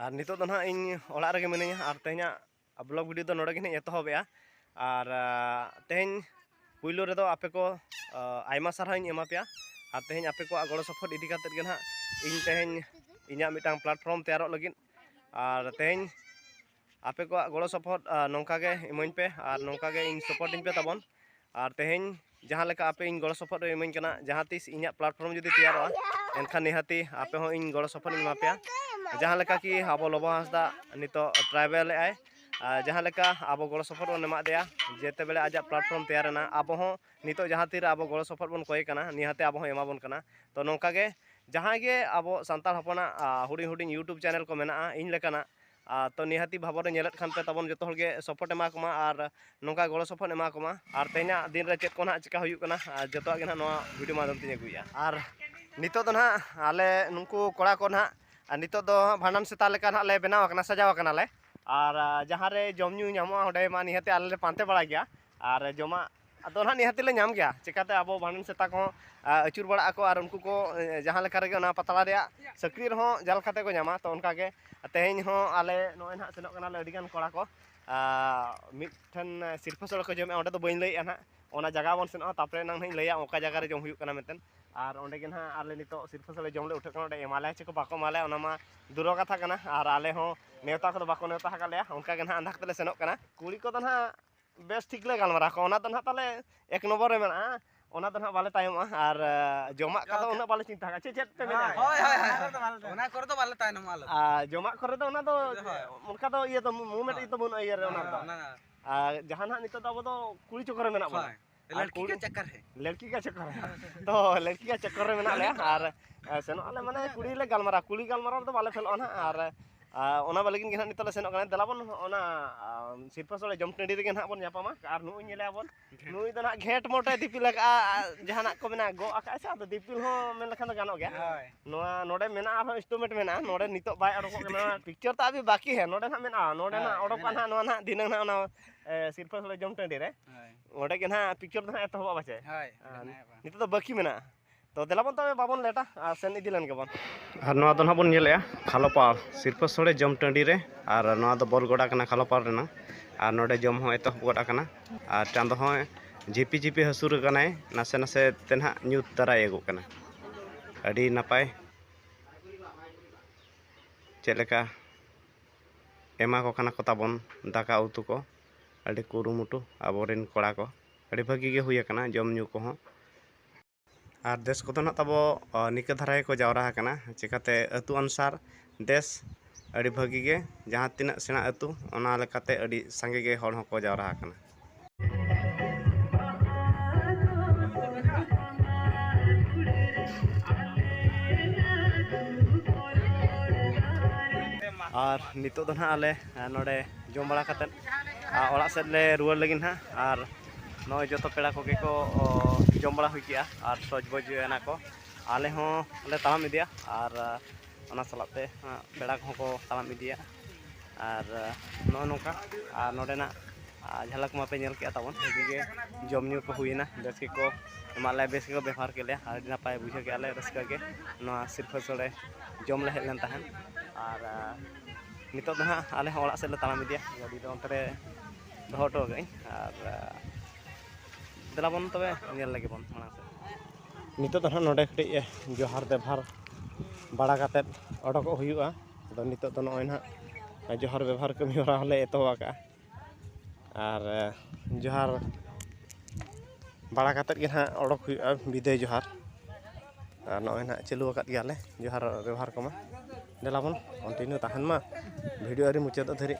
ᱟᱨ ᱱᱤᱛᱚᱜ ᱫᱚ ᱱᱟᱦᱟᱜ ᱤᱧ ᱚᱲᱟᱜ ᱨᱮᱜᱮ ᱢᱤᱱᱟᱹᱧᱟ ᱟᱨ ᱛᱮᱦᱮᱧᱟᱜ ᱵᱞᱚᱜ ᱵᱷᱤᱰᱤᱭᱳ ᱫᱚ ᱱᱚᱰᱮ ᱜᱮ ᱱᱟᱦᱟᱜ ᱮᱛᱚᱦᱚᱵᱮᱜᱼᱟ ᱟᱨ ᱛᱮᱦᱮᱧ ᱯᱩᱭᱞᱩ ᱨᱮᱫᱚ ᱟᱯᱮ ᱠᱚ ᱟᱭᱢᱟ ᱥᱟᱨᱦᱟᱣ ᱤᱧ ᱮᱢᱟ ᱯᱮᱭᱟ ᱟᱨ ᱛᱮᱦᱮᱧ ᱟᱯᱮ ᱠᱚᱣᱟᱜ ᱜᱚᱲᱚ ᱥᱚᱯᱚᱦᱚᱫ ᱤᱫᱤ ᱠᱟᱛᱮᱫ ᱜᱮ ᱱᱟᱦᱟᱜ ᱤᱧ ᱛᱮᱦᱮᱧ ᱤᱧᱟᱹᱜ ᱢᱤᱫᱴᱟᱝ ᱯᱞᱟᱴᱯᱷᱨᱚᱢ ᱛᱮᱭᱟᱨᱚᱜ ᱞᱟᱹᱜᱤᱫ ᱟᱨ ᱛᱮᱦᱮᱧ ᱟᱯᱮ ᱠᱚᱣᱟᱜ ᱜᱚᱲᱚ ᱥᱚᱯᱚᱦᱚᱫ ᱱᱚᱝᱠᱟ ᱜᱮ ᱤᱢᱟᱹᱧ ᱯᱮ ᱟᱨ ᱱᱚᱝᱠᱟ ᱜᱮ ᱤᱧ ᱥᱚᱯᱚᱨᱴ ᱤᱧ ᱯᱮ ᱛᱟᱵᱚᱱ ᱟᱨ ᱛᱮᱦᱮᱧ ᱡᱟᱦᱟᱸ ᱞᱮᱠᱟ ᱟᱯᱮ ᱤᱧ ᱜᱚᱲᱚ ᱥᱚᱯᱚᱦᱚᱫ ᱯᱮ ᱤᱢᱟᱹᱧ ᱠᱟᱱᱟ ᱡᱟᱦᱟᱸ ᱛᱤᱥ ᱤᱧᱟᱹᱜ ᱯᱞᱟᱴᱯᱷᱚᱨᱢ ᱡᱩᱫᱤ ᱛᱮᱭᱟᱨᱚᱜᱼᱟ ᱮᱱᱠᱷᱟᱱ ᱱᱤᱦᱟᱹᱛᱤ ᱟᱯᱮ ᱦᱚᱸ ᱤᱧ ᱜᱚᱲᱚ ᱥᱚᱯᱚᱦᱚᱫ ᱤᱧ ᱮᱢᱟ ᱯᱮᱭᱟ ᱡᱟᱦᱟᱸ ᱞᱮᱠᱟ ᱠᱤ ᱟᱵᱚ ᱞᱚᱵᱚ ᱦᱟᱸᱥᱫᱟ ᱱᱤᱛᱚᱜ ᱴᱨᱟᱭᱵᱮᱞ ᱮᱜᱼᱟᱭ ᱡᱟᱦᱟᱸ ᱞᱮᱠᱟ ᱟᱵᱚ ᱜᱚᱲᱚ ᱥᱚᱯᱚᱦᱚᱫ ᱵᱚᱱ ᱮᱢᱟᱜ ᱫᱮᱭᱟ ᱡᱮᱛᱮ ᱵᱮᱲᱟ ᱟᱡᱟᱜ ᱯᱞᱟᱴᱯᱷᱚᱨᱢ ᱛᱮᱭᱟᱨ ᱮᱱᱟ ᱟᱵᱚ ᱦᱚᱸ ᱱᱤᱛᱚᱜ ᱡᱟᱦᱟᱸ ᱛᱤᱨᱮ ᱟᱵᱚ ᱜᱚᱲᱚ ᱥᱚᱯᱚᱦᱚᱫ ᱵᱚᱱ ᱠᱚᱭᱮ ᱠᱟᱱᱟ ᱱᱤᱦᱟᱹᱛᱤ ᱟᱵᱚ ᱦᱚᱸ ᱮᱢᱟᱵᱚᱱ ᱠᱟᱱᱟ ᱛᱚ ᱱᱚᱝᱠᱟ ᱜᱮ ᱡᱟᱦᱟᱸᱭ ᱜᱮ ᱟᱵᱚ ᱥᱟᱱᱛᱟᱲ ᱦᱚᱯᱚᱱᱟᱜ ᱦᱩᱰᱤᱧ ᱦᱩᱰᱤᱧ ᱤᱭᱩᱴᱩᱵᱽ ᱪᱮᱱᱮᱞ ᱠᱚ ᱢᱮᱱᱟᱜᱼᱟ ᱤᱧ ᱞᱮᱠᱟᱱᱟᱜ ᱟᱨ ᱛᱚ ᱱᱤᱦᱟᱹᱛᱤ ᱵᱷᱟᱵᱚᱱ ᱨᱮ ᱧᱮᱞᱮᱫ ᱠᱷᱟᱱ ᱯᱮ ᱛᱟᱵᱚᱱ ᱡᱚᱛᱚ ᱦᱚᱲ ᱜᱮ ᱥᱚᱯᱳᱨᱴ ᱮᱢᱟ ᱠᱚᱢᱟ ᱟᱨ ᱱᱚᱝᱠᱟ ᱜᱚᱲᱚ ᱥᱚᱯᱚᱦᱚᱫ ᱮᱢᱟ ᱠᱚᱢᱟ ᱟᱨ ᱛᱮᱦᱮᱧᱟᱜ ᱫᱤᱱ ᱨᱮ ᱪᱮᱫ ᱠᱚ ᱱᱟᱦᱟᱜ ᱪᱤᱠᱟᱹ ᱦᱩᱭᱩᱜ ᱠᱟᱱᱟ ᱟᱨ ᱡᱚᱛᱚᱣᱟᱜ ᱜᱮ ᱱᱟᱦᱟᱜ ᱱᱚᱣᱟ ᱵᱷᱤᱰᱤᱭᱳ ᱢᱟᱫᱽᱫᱷᱚᱢ ᱛᱮᱧ ᱟᱹᱜᱩᱭᱮᱜᱼᱟ ᱟᱨ ᱱᱤᱛᱚᱜ ᱫᱚ ᱱᱟᱦᱟᱜ ᱟᱞᱮ ᱱᱩᱠᱩ ᱠᱚᱲᱟ ᱠᱚ ᱱᱟᱦᱟᱜ ᱟᱨ ᱱᱤᱛᱚᱜ ᱫᱚ ᱵᱷᱟᱸᱰᱟᱱ ᱥᱮᱛᱟ ᱞᱮᱠᱟ ᱱᱟᱦᱟᱜ ᱞᱮ ᱵᱮᱱᱟᱣ ᱟᱠᱟᱱᱟ ᱥᱟᱡᱟᱣ ᱟᱠᱟᱱᱟᱞᱮ ᱟᱨ ᱡᱟᱦᱟᱸ ᱨᱮ ᱡᱚᱢ ᱧᱩ ᱧᱟᱢᱚᱜᱼᱟ ᱚᱸᱰᱮ ᱢᱟ ᱱᱤᱦᱟᱹᱛᱤ ᱟᱞᱮ ᱞᱮ ᱯᱟᱱᱛᱮ ᱵᱟᱲᱟᱭ ᱜᱮᱭᱟ ᱟᱨ ᱡᱚᱢᱟᱜ ᱫᱚ ᱦᱟᱸᱜ ᱱᱤᱦᱟᱹᱛ ᱞᱮ ᱧᱟᱢ ᱜᱮᱭᱟ ᱪᱤᱠᱟᱹᱛᱮ ᱟᱵᱚ ᱵᱷᱟᱸᱰᱟᱱ ᱥᱮᱛᱟ ᱠᱚᱦᱚᱸ ᱟᱹᱪᱩᱨ ᱵᱟᱲᱟᱜ ᱟᱠᱚ ᱟᱨ ᱩᱱᱠᱩ ᱠᱚ ᱡᱟᱦᱟᱸ ᱞᱮᱠᱟ ᱨᱮᱜᱮ ᱚᱱᱟ ᱯᱟᱛᱲᱟ ᱨᱮᱭᱟᱜ ᱥᱟᱹᱠᱲᱤ ᱨᱮᱦᱚᱸ ᱡᱟᱞ ᱠᱟᱛᱮᱫ ᱠᱚ ᱧᱟᱢᱟ ᱛᱳ ᱚᱱᱠᱟ ᱜᱮ ᱛᱮᱦᱮᱧ ᱦᱚᱸ ᱟᱞᱮ ᱱᱚᱜᱼᱚᱭ ᱦᱟᱸᱜ ᱥᱮᱱᱚᱜ ᱠᱟᱱᱟᱞᱮ ᱟᱹᱰᱤ ᱜᱟᱱ ᱠᱚᱲᱟ ᱠᱚ ᱢᱤᱫ ᱴᱷᱮᱱ ᱥᱤᱨᱯᱟᱹ ᱥᱚᱲᱮ ᱠᱚ ᱡᱚᱢᱮᱜᱼᱟ ᱚᱸᱰᱮ ᱫᱚ ᱵᱟᱹᱧ ᱞᱟᱹᱭᱮᱜᱼᱟ ᱦᱟᱸᱜ ᱚᱱᱟ ᱡᱟᱭᱜᱟ ᱵᱚᱱ ᱥᱮᱱᱚᱜᱼᱟ ᱛᱟᱨᱯᱚᱨᱮ ᱮᱱᱟᱝ ᱦᱟᱸᱜ ᱤᱧ ᱞᱟᱹᱭᱟ ᱚᱠᱟ ᱡᱟᱭᱜᱟ ᱨᱮ ᱡᱚᱢ ᱦᱩᱭᱩᱜ ᱠᱟᱱᱟ ᱢᱮᱱᱛᱮ ᱟᱨ ᱚᱸᱰᱮ ᱜᱮ ᱦᱟᱸᱜ ᱟᱞᱮ ᱱᱤᱛᱚᱜ ᱥᱤᱨᱯᱟᱹ ᱥᱚᱲᱮ ᱡᱚᱢ ᱞᱮ ᱩᱴᱷᱟᱹᱜ ᱠᱟᱱᱟ ᱚᱸᱰᱮ ᱮᱢᱟ ᱞᱮᱭᱟ ᱪᱮ ᱵᱟᱠᱚ ᱮᱢᱟ ᱞᱮᱭᱟ ᱚᱱᱟ ᱢᱟ ᱫᱩᱨᱚ ᱠᱟᱛᱷᱟ ᱠᱟᱱᱟ ᱟᱨ ᱟᱞᱮ ᱦᱚᱸ ᱱᱮᱶᱛᱟ ᱠᱚᱫᱚ ᱵᱟᱠᱚ ᱱᱮᱶᱛᱟ ᱟᱠᱟᱫ ᱞᱮᱭᱟ ᱚᱱᱠᱟ ᱜᱮ ᱦᱟᱸᱜ ᱟᱸᱫᱷᱟ ᱠᱟᱛᱮᱫ ᱞᱮ ᱥᱮᱱᱚᱜ ᱠᱟᱱᱟ ᱠᱩᱲᱤ ᱠᱚᱫᱚ ᱦᱟᱸᱜ ᱵᱮᱥ ᱴᱷᱤᱠ ᱞᱮ ᱜᱟᱞᱢᱟᱨᱟᱣ ᱠᱚᱣᱟ ᱚᱱᱟ ᱫᱚ ᱱᱟᱦᱟᱜ ᱛᱟᱦᱚᱞᱮ ᱮᱠ ᱱᱚᱢᱵᱚᱨ ᱨᱮ ᱢᱮᱱᱟᱜᱼᱟ ᱚᱱᱟ ᱫᱚ ᱱᱟᱦᱟᱜ ᱵᱟᱞᱮ ᱛᱟᱭᱚᱢᱚᱜᱼᱟ ᱟᱨ ᱡᱚᱢᱟᱜ ᱠᱚᱫᱚ ᱩᱱᱟᱹᱜ ᱵᱟᱞᱮ ᱪᱤᱱᱛᱟᱹ ᱠᱟᱜᱼᱟ ᱪᱮᱫ ᱪᱮᱫ ᱯᱮ ᱢᱮᱱᱟ ᱦᱳᱭ ᱦᱳᱭ ᱦᱳᱭ ᱚᱱᱟ ᱠᱚᱨᱮ ᱫᱚ ᱵᱟᱞᱮ ᱛᱟᱭᱱᱚᱢᱚᱜᱼᱟ ᱟᱞᱮ ᱟᱨ ᱡᱚᱢᱟᱜ ᱠᱚᱨᱮ ᱫᱚ ᱚᱱᱟ ᱫᱚ ᱚᱱᱠᱟ ᱫᱚ ᱤᱭᱟᱹ ᱫᱚ ᱢᱩᱵᱷᱢᱮᱱᱴ ᱫᱚ ᱵᱟᱹᱱᱩᱜᱼᱟ ᱤᱭᱟᱹ ᱨᱮ ᱚᱱᱟ ᱫᱚ ᱟᱨ ᱡᱟᱦᱟᱸ ᱱᱟᱦᱟᱜ ᱱᱤᱛᱚᱜ ᱫᱚ ᱟᱵᱚ ᱫᱚ ᱠᱩᱲᱤ ᱪᱚᱠᱚᱨ ᱨᱮ ᱢᱮᱱᱟᱜ ᱵᱚᱱᱟ ᱞᱟᱲᱠᱤ ᱠᱟ ᱪᱟᱠᱟᱨ ᱦᱮ ᱞᱟᱲᱠᱤ ᱠᱟ ᱪᱟᱠᱟᱨ ᱦᱮ ᱛᱚ ᱞᱟᱲᱠᱤ ᱠᱟ ᱪᱟᱠᱟᱨ ᱨᱮ ᱢᱮᱱᱟᱜ ᱞᱮᱭᱟ ᱟᱨ ᱥᱮᱱᱚᱜ ᱟᱞᱮ ᱢᱟᱱᱮ ᱠᱩᱲᱤ ᱞᱮ ᱜᱟᱞᱢᱟᱨᱟᱣ ᱠᱩᱲᱤ ᱜᱟᱞᱢᱟᱨᱟᱣ ᱫᱚ ᱵᱟᱞᱮ ᱯᱷᱮᱞᱚᱜᱼᱟ ᱱᱟᱦᱟᱜ ᱟᱨ ᱚᱱᱟ ᱵᱟᱞᱮ ᱜᱮ ᱱᱟᱦᱟᱜ ᱱᱤᱛᱚᱜ ᱞᱮ ᱥᱮᱱᱚᱜ ᱠᱟᱱᱟ ᱫᱮᱞᱟ ᱵᱚᱱ ᱚᱱᱟ ᱥᱤᱨᱯᱟᱹ ᱥᱚᱲᱮ ᱡᱚᱢ ᱴᱟᱺᱰᱤ ᱨᱮᱜᱮ ᱱᱟᱦᱟᱜ ᱵᱚᱱ ᱧᱟᱯᱟᱢᱟ ᱟᱨ ᱱᱩᱭ ᱧᱮᱞᱮᱭᱟ ᱵᱚᱱ ᱱᱩᱭ ᱫᱚ ᱱᱟᱦᱟᱜ ᱜᱷᱮᱸᱴ ᱢᱚᱴᱮ ᱫᱤᱯᱤᱞ ᱟᱠᱟᱜᱼᱟ ᱡᱟᱦᱟᱱᱟᱜ ᱠᱚ ᱢᱮᱱᱟᱜᱼᱟ ᱜᱚᱜ ᱟᱠᱟᱜᱼᱟ ᱥᱮ ᱟᱫᱚ ᱫᱤᱯᱤᱞ ᱦᱚᱸ ᱢᱮᱱ ᱞᱮᱠᱷᱟᱱ ᱫᱚ ᱜᱟᱱᱚᱜ ᱜᱮᱭᱟ ᱱᱚᱣᱟ ᱱᱚᱰᱮ ᱢᱮᱱᱟᱜᱼᱟ ᱟᱨᱦᱚᱸ ᱤᱱᱥᱴᱨᱩᱢᱮᱱᱴ ᱢᱮᱱᱟᱜᱼᱟ ᱱᱚᱰᱮ ᱱᱤᱛᱚᱜ ᱵᱟᱭ ᱚᱰᱚᱠᱚᱜ ᱠᱟᱱᱟ ᱯᱤᱠᱪᱟᱨ ᱛᱚ ᱟᱵᱤ ᱵᱟᱠᱤ ᱦᱮ ᱱᱚᱰᱮ ᱱᱟᱦᱟᱜ ᱢᱮᱱᱟᱜᱼᱟ ᱱᱚᱰᱮ ᱱᱟᱦᱟᱜ ᱚᱰᱚᱠᱚᱜᱼᱟ ᱱᱟᱦᱟᱜ ᱱᱚᱣᱟ ᱱᱟᱦᱟᱜ ᱫᱷᱤᱱᱟᱹᱝ ᱱᱟᱦᱟᱜ ᱚᱱᱟ ᱥᱤᱨᱯᱟᱹ ᱥᱚᱲᱮ ᱡᱚᱢ ᱴᱟᱺᱰᱤ ᱨᱮ ᱚᱸᱰᱮ ᱜᱮ ᱱᱟᱦᱟᱜ ᱯᱤᱠᱪᱚᱨ ᱫᱚ ᱱᱟᱦᱟᱜ ᱮᱛᱚᱦᱚᱵᱚᱜᱼᱟ ᱯᱟᱪᱮ ᱦᱳᱭ ᱱᱤᱛᱚᱜ ᱫᱚ ᱵᱟᱹᱠᱤ ᱢᱮᱱᱟᱜᱼᱟ ᱛᱚ ᱫᱮᱞᱟ ᱵᱚᱱ ᱛᱚᱵᱮ ᱵᱟᱵᱚᱱ ᱞᱮᱴᱟ ᱟᱨ ᱥᱮᱱ ᱤᱫᱤ ᱞᱮᱱ ᱜᱮᱵᱚᱱ ᱟᱨ ᱱᱚᱣᱟ ᱫᱚ ᱱᱟᱦᱟᱜ ᱵᱚᱱ ᱧᱮᱞᱮᱜᱼᱟ ᱠᱷᱟᱞᱚᱯᱟ ᱥᱤᱨᱯᱟᱹ ᱥᱚᱲᱮ ᱡᱚᱢ ᱴᱟᱺᱰᱤ ᱨᱮ ᱟᱨ ᱱᱚᱣᱟ ᱫᱚ ᱵᱚᱞ ᱜᱚᱰᱟ ᱠᱟᱱᱟ ᱠᱷᱟᱞᱚᱯᱟ ᱨᱮᱱᱟᱜ ᱟᱨ ᱱᱚᱰᱮ ᱡᱚᱢ ᱦᱚᱸ ᱮᱛᱚᱦᱚᱵ ᱜᱚᱫ ᱟᱠᱟᱱᱟ ᱟᱨ ᱪᱟᱸᱫᱚ ᱦᱚᱸ ᱡᱷᱤᱯᱤ ᱡᱷᱤᱯᱤ ᱦᱟᱹᱥᱩᱨ ᱟᱠᱟᱱᱟᱭ ᱱᱟᱥᱮ ᱱᱟᱥᱮ ᱛᱮ ᱱᱟᱦᱟᱜ ᱧᱩᱛ ᱫᱟᱨᱟᱭ ᱮᱜᱚᱜ ᱠᱟᱱᱟ ᱟᱹᱰᱤ ᱱᱟᱯᱟᱭ ᱪᱮᱫ ᱞᱮᱠᱟ ᱮᱢᱟ ᱠᱚ ᱠᱟᱱᱟ ᱠᱚ ᱛᱟᱵᱚᱱ ᱫᱟᱠᱟ ᱩᱛᱩ ᱠᱚ ᱟᱹᱰᱤ ᱠᱩᱨᱩᱢᱩᱴᱩ ᱟᱵᱚ ᱨᱮᱱ ᱠᱚᱲᱟ ᱠᱚ ᱟᱹᱰᱤ ᱵᱷᱟᱹᱜᱤ ᱜᱮ ᱦᱩᱭ ᱟᱠᱟᱱᱟ ᱡᱚᱢᱼᱧᱩ ᱠᱚᱦᱚᱸ ᱟᱨ ᱫᱮᱥ ᱠᱚᱫᱚ ᱱᱟᱜ ᱛᱟᱵᱚ ᱱᱤᱝᱠᱟᱹ ᱫᱷᱟᱨᱟ ᱜᱮᱠᱚ ᱡᱟᱣᱨᱟ ᱟᱠᱟᱱᱟ ᱪᱤᱠᱟᱹᱛᱮ ᱟᱹᱛᱩ ᱚᱱᱩᱥᱟᱨ ᱫᱮᱥ ᱟᱹᱰᱤ ᱵᱷᱟᱹᱜᱤ ᱜᱮ ᱡᱟᱦᱟᱸ ᱛᱤᱱᱟᱹᱜ ᱥᱮᱬᱟ ᱟᱹᱛᱩ ᱚᱱᱟ ᱞᱮᱠᱟᱛᱮ ᱟᱹᱰᱤ ᱥᱟᱸᱜᱮ ᱜᱮ ᱦᱚᱲ ᱦᱚᱸᱠᱚ ᱡᱟᱣᱨᱟ ᱟᱠᱟᱱᱟ ᱟᱨ ᱱᱤᱛᱚᱜ ᱫᱚ ᱱᱟᱜ ᱟᱞᱮ ᱱᱚᱰᱮ ᱡᱚᱢ ᱵᱟᱲᱟ ᱠᱟᱛᱮᱫ ᱚᱲᱟᱜ ᱥᱮᱫ ᱞᱮ ᱨᱩᱣᱟᱹᱲ ᱞᱟᱹᱜᱤᱫ ᱦᱟᱸᱜ ᱟᱨ ᱱᱚᱜᱼᱚᱭ ᱡᱚᱛᱚ ᱯᱮᱲᱟ ᱠᱚᱜᱮ ᱠᱚ ᱡᱚᱢ ᱵᱟᱲᱟ ᱦᱩᱭ ᱠᱮᱜᱼᱟ ᱟᱨ ᱥᱚᱡᱽ ᱵᱚᱡᱽ ᱮᱱᱟ ᱠᱚ ᱟᱞᱮ ᱦᱚᱸ ᱞᱮ ᱛᱟᱲᱟᱢ ᱤᱫᱤᱭᱟ ᱟᱨ ᱚᱱᱟ ᱥᱟᱞᱟᱜ ᱛᱮ ᱯᱮᱲᱟ ᱠᱚᱦᱚᱸ ᱠᱚ ᱛᱟᱲᱟᱢ ᱤᱫᱤᱭᱟ ᱟᱨ ᱱᱚᱜᱼᱚ ᱱᱚᱝᱠᱟ ᱟᱨ ᱱᱚᱰᱮᱱᱟᱜ ᱡᱷᱟᱞᱟᱠ ᱢᱟᱯᱮ ᱧᱮᱞ ᱠᱮᱜᱼᱟ ᱛᱟᱵᱚᱱ ᱵᱷᱟᱹᱜᱤ ᱜᱮ ᱡᱚᱢ ᱧᱩ ᱠᱚ ᱦᱩᱭᱮᱱᱟ ᱵᱮᱥ ᱜᱮᱠᱚ ᱮᱢᱟᱜ ᱞᱮᱭᱟ ᱵᱮᱥ ᱜᱮᱠᱚ ᱵᱮᱵᱚᱦᱟᱨ ᱠᱮᱜ ᱞᱮᱭᱟ ᱟᱹᱰᱤ ᱱᱟᱯᱟᱭ ᱵᱩᱡᱷᱟᱹᱣ ᱠᱮᱜᱼᱟ ᱞᱮ ᱨᱟᱹᱥᱠᱟᱹ ᱜᱮ ᱱᱚᱣᱟ ᱥᱤᱨᱯᱟᱹ ᱥᱚᱲᱮ ᱡᱚᱢ ᱞᱮ ᱦᱮᱡ ᱞᱮᱱ ᱛᱟᱦᱮᱸᱫ ᱟᱨ ᱱᱤᱛᱚᱜ ᱫᱚ ᱦᱟᱸᱜ ᱟᱞᱮ ᱦᱚᱸ ᱚᱲᱟᱜ ᱥᱮᱫ ᱞᱮ ᱛᱟᱲᱟᱢ ᱤᱫᱤᱭᱟ ᱜᱟᱹᱰᱤ ᱫᱚ ᱚᱱᱛᱮ ᱨᱮ ᱫᱚᱦᱚ ᱦᱚᱴᱚ ᱠᱟᱜ ᱟᱹᱧ ᱟᱨ ᱫᱮᱞᱟ ᱵᱚᱱ ᱛᱚᱵᱮ ᱧᱮᱞ ᱞᱮᱜᱮ ᱵᱚᱱ ᱢᱟᱲᱟᱝ ᱥᱮᱫ ᱱᱤᱛᱚᱜ ᱫᱚ ᱦᱟᱸᱜ ᱱᱚᱰᱮ ᱠᱟᱹᱴᱤᱡ ᱡᱚᱦᱟᱨ ᱵᱮᱵᱷᱟᱨ ᱵᱟᱲᱟ ᱠᱟᱛᱮᱫ ᱚᱰᱚᱠᱚᱜ ᱦᱩᱭᱩᱜᱼᱟ ᱟᱫᱚ ᱱᱤᱛᱚᱜ ᱫᱚ ᱱᱚᱜᱼᱚᱭ ᱦᱟᱸᱜ ᱡᱚᱦᱟᱨ ᱵᱮᱵᱷᱟᱨ ᱠᱟᱹᱢᱤ ᱦᱚᱨᱟ ᱦᱚᱸᱞᱮ ᱮᱛᱚᱦᱚᱵ ᱟᱠᱟᱫᱼᱟ ᱟᱨ ᱡᱚᱦᱟᱨ ᱵᱟᱲᱟ ᱠᱟᱛᱮᱫ ᱜᱮ ᱦᱟᱸᱜ ᱚᱰᱚᱠ ᱦᱩᱭᱩᱜᱼᱟ ᱵᱤᱫᱟᱹᱭ ᱡᱚᱦᱟᱨ ᱟᱨ ᱱᱚᱜᱼᱚᱭ ᱦᱟᱸᱜ ᱪᱟᱹᱞᱩ ᱟᱠᱟᱫ ᱜᱮᱭᱟᱞᱮ ᱡᱚᱦᱟᱨ ᱵᱮᱵᱚᱦᱟᱨ ᱠᱚᱢᱟ ᱫᱮᱞᱟ ᱵᱚᱱ ᱠᱚᱱᱴᱤᱱᱤᱭᱩ ᱛᱟᱦᱮᱱ ᱢᱟ ᱵᱷᱤᱰᱤᱭᱳ ᱟᱹᱣᱨᱤ ᱢᱩᱪᱟᱹᱫᱚᱜ ᱫᱷᱟᱹᱨᱤᱡ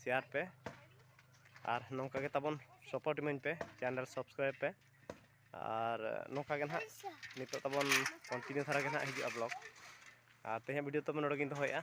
ᱥᱮᱭᱟᱨ ᱯᱮ ᱟᱨ ᱱᱚᱝᱠᱟ ᱜᱮ ᱛᱟᱵᱚᱱ ᱥᱚᱯᱳᱨᱴ ᱤᱢᱟᱹᱧ ᱯᱮ ᱪᱮᱱᱮᱞ ᱥᱟᱵᱥᱠᱨᱟᱭᱤᱵᱽ ᱯᱮ ᱟᱨ ᱱᱚᱝᱠᱟ ᱜᱮ ᱱᱟᱦᱟᱜ ᱱᱤᱛᱚᱜ ᱛᱟᱵᱚᱱ ᱠᱚᱱᱴᱤᱱᱤᱭᱩ ᱫᱷᱟᱨᱟ ᱜᱮ ᱱᱟᱦᱟᱜ ᱦᱤᱡᱩᱜᱼᱟ ᱵᱞᱚᱜᱽ ᱟᱨ ᱛᱮᱦᱮᱧᱟᱜ ᱵᱷᱤᱰᱤᱭᱳ ᱛᱚᱵᱮ ᱱᱚᱰᱮ ᱜᱮᱧ ᱫᱚᱦᱚᱭᱮᱫᱼᱟ